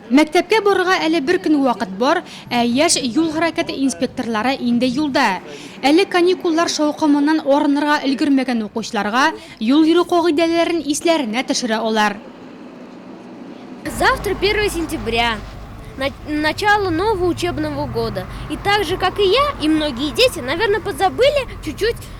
Мәктәпкә барырга әле бер көн вакыт бар, ә яшь юл хәрәкәте инспекторлары инде юлда. Әле каникуллар шаукымыннан арынырга өлгермәгән укучыларга юл йөрү кагыйдәләрен исләренә төшерә алар. Завтра первое сентября, начало нового учебного года. И так же, как и я, и многие дети, наверное, подзабыли чуть-чуть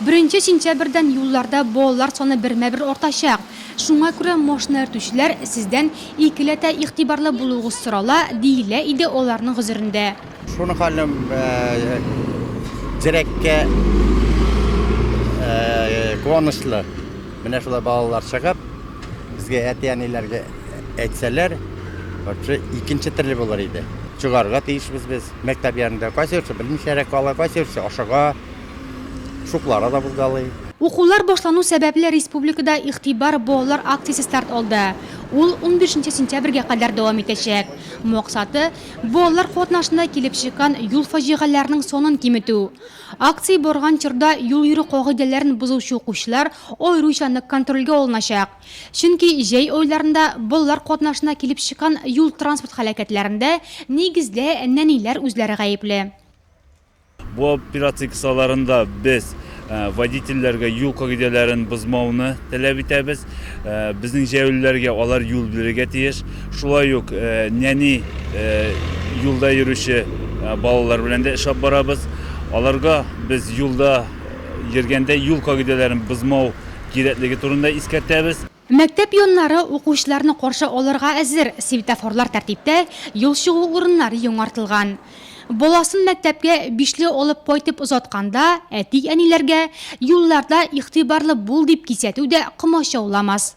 Беренче сентябрьдән юлларда балалар саны бермә-бер артачак. Шуңа күрә машина йөртүчеләр, сездән икеләтә игътибарлы булуыгыз сорала, диелә иде аларның гозерендә. Шуны ханым дирәккә куанычлы. Менә шулай балалар чыгып, безгә әти-әниләргә әйтсәләр, вообще икенче төрле булыр иде. Чыгарга тиешбез без мәктәп янында. Кайсы берсе белмичәрәк кала, кайсы берсе ашыга. Шуклары да бозгалый. Укулар башлану сәбәпле республикада Игътибар балалар акциясе старт алды. Ул унбишенче сентябрьгә кадәр дәвам итәчәк. Максаты, балалар катнашында килеп чыккан юл фаҗигаләренең санын киметү. Акция барган чорда юл йөрү кагыйдәләрен бозучы укучылар аеруча нык контрольгә алыначак. Чөнки җәй айларында балалар катнашында килеп чыккан юл-транспорт һәлакәтләрендә, нигездә, нәниләр үзләре гаепле. Бу операция кысаларында без водительләргә юл кагыйдәләрен бозмауны таләп итәбез. Безнең җәяүлеләргә алар юл бирергә тиеш. Шулай ук нәни юлда йөрүче балалар белән дә эшләп барабыз. Аларга без юлда йөргәндә юл кагыйдәләрен бозмау кирәклеге турында искәртәбез. Мәктәп яннары укучыларны каршы алырга әзер, светофорлар тәртиптә, юл чыгу урыннары яңартылган. Баласын мәктәпкә бишле алып кайтып озатканда, әти-әниләргә, Юлларда игътибарлы бул, дип кисәтү дә комачауламас.